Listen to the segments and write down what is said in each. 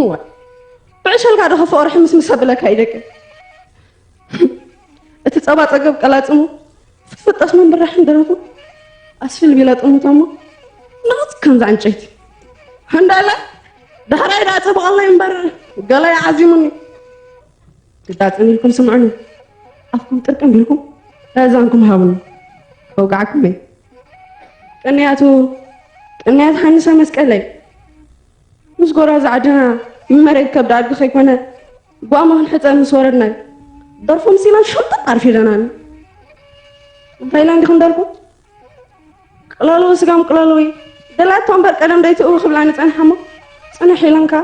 እዋይ ብዕሸልካ ዶ ከፈኦ ርሕምስ ምስ ኣብለካ ይደቂ እቲ ጸባ ጸገብ ቀላጽሙ ፍጥፍጠስ መንብራሕን ደረቱ ኣስፊል ቢለ ጥሙቶሞ ንቕጽ ከምዚ ዕንጨይቲ እንዳለ ዳሕራይ ዳ ጽብቐለይ እምበር ገላይ ዓዚሙኒ ግዳጽን ኢልኩም ስምዑኒ ኣፍኩም ጥርቅም ኢልኩም እዛንኩም ሃቡኒ ከውጋዕኩም እየ ቅንያቱ ቅንያት ሓንሰ መስቀለይ ምስ ጎራዙ ዓድና መሬት ከብዲ ኣድጊ ከይኮነ ጓማ ክንሕፀ ምስ ወረድና ደርፎ ምሲና ሸምጠጥ ዓርፊ ኢለናኒ እንታይ ኢለን ዲኹም ደርፎ ቅለልዊ ስጋም ቅለልዊ ደላቶ እምበር ቀደም ደይትእዊ ክብላኒ ፀንሓሞ ፅንሕ ኢለንካ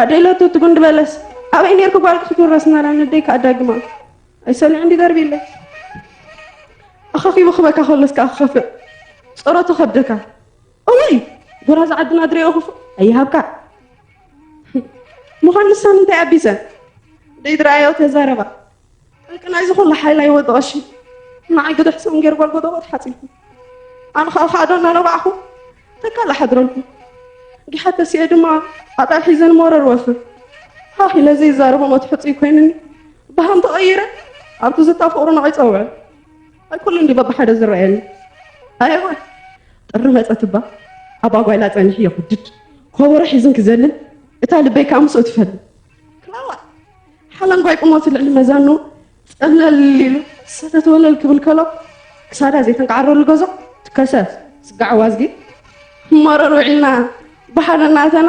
ኣደይ ለቱ ትጉንዲ በለስ ኣበይ ነርኩ ጓል ክትውረስ ናላ ንደይ ከዓ ዳግማ ኣይሰልዕ እንዲ ደርቢ ኢለ ኣኻኺቡ ክበካ ከሎስ ከዓ ክኸፍእ ፀረቱ ከብደካ እዋይ ጉራዝ ዓድና ድሬኦ ክፉእ ኣይሃብካ ምዃን ንሳን እንታይ ኣቢጸን ደይድረኣዮ ተዛረባ ጠንቂ ናይዚ ኩሉ ሓይላ ይወዲ ቀሺ ንዓይ ግድሕ ሰም ገይሩ ጓልጎደቦ ተሓጺብኩም ኣነ ከዓ ካዕዶ እናነባዕኹ ተካል ሓድረልኩም ጊሓት ተሲኤ ድማ ኣጣል ሒዘን መረር ወፍር ሃኽ ኢለ ዘይዛረቦ መትሕፅይ ኮይንኒ ብሃም ተቐይረ ኣብቲ ዝታ ፍቕሩ ንዕይ ፀውዐ ኣይኩሉን ድዩ በብሓደ ዝረኣየኒ ኣየወ ጥሪ መፀት እባ ኣባ ጓይላ ፀኒሑ የኹድድ ኮቦሮ ሒዝን ክዘልል እታ ልበይ ከዓ ምስኡ ትፈል ክላዋ ሓላንጓይ ቁመቱ ልዕሊ መዛኑ ፀብለል ኢሉ ሰተተወለል ክብል ከሎ ክሳዳ ዘይተንቃዓረሉ ገዞ ትከሰ ስጋዕ ዋዝጊ መረር ውዒልና ብሓደ እናተና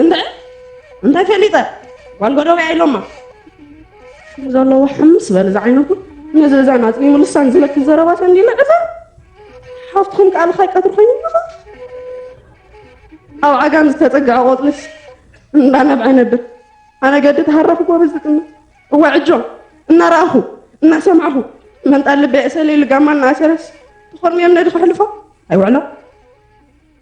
እንታይ እንታይ ፈሊጠ ጓል ጎደበያ ኢሎማ ዘለዎ ሕምስ በል ዝዓይነቱ ነዚ እዛ ናፅኒ ምልሳን ዝለክ ዘረባ ተንዲለ እታ ሓፍትኩም ቃል ኻይ ቀትሪ ኮይኑ ምኻ ኣብ ዓጋም ዝተፀግዐ ቆፅልስ እንዳነብዐ ነብር ኣነ ገዲ ተሃራኹ ጎበዝ ዝጥምት እዋ ዕጆ እናረኣኹ እናሰማዕኹ መንጣ ልበ እሰለይ ልጋማ እናኣሰረስ ትኾርምዮም ነዲ ክሕልፎ ኣይውዕሎ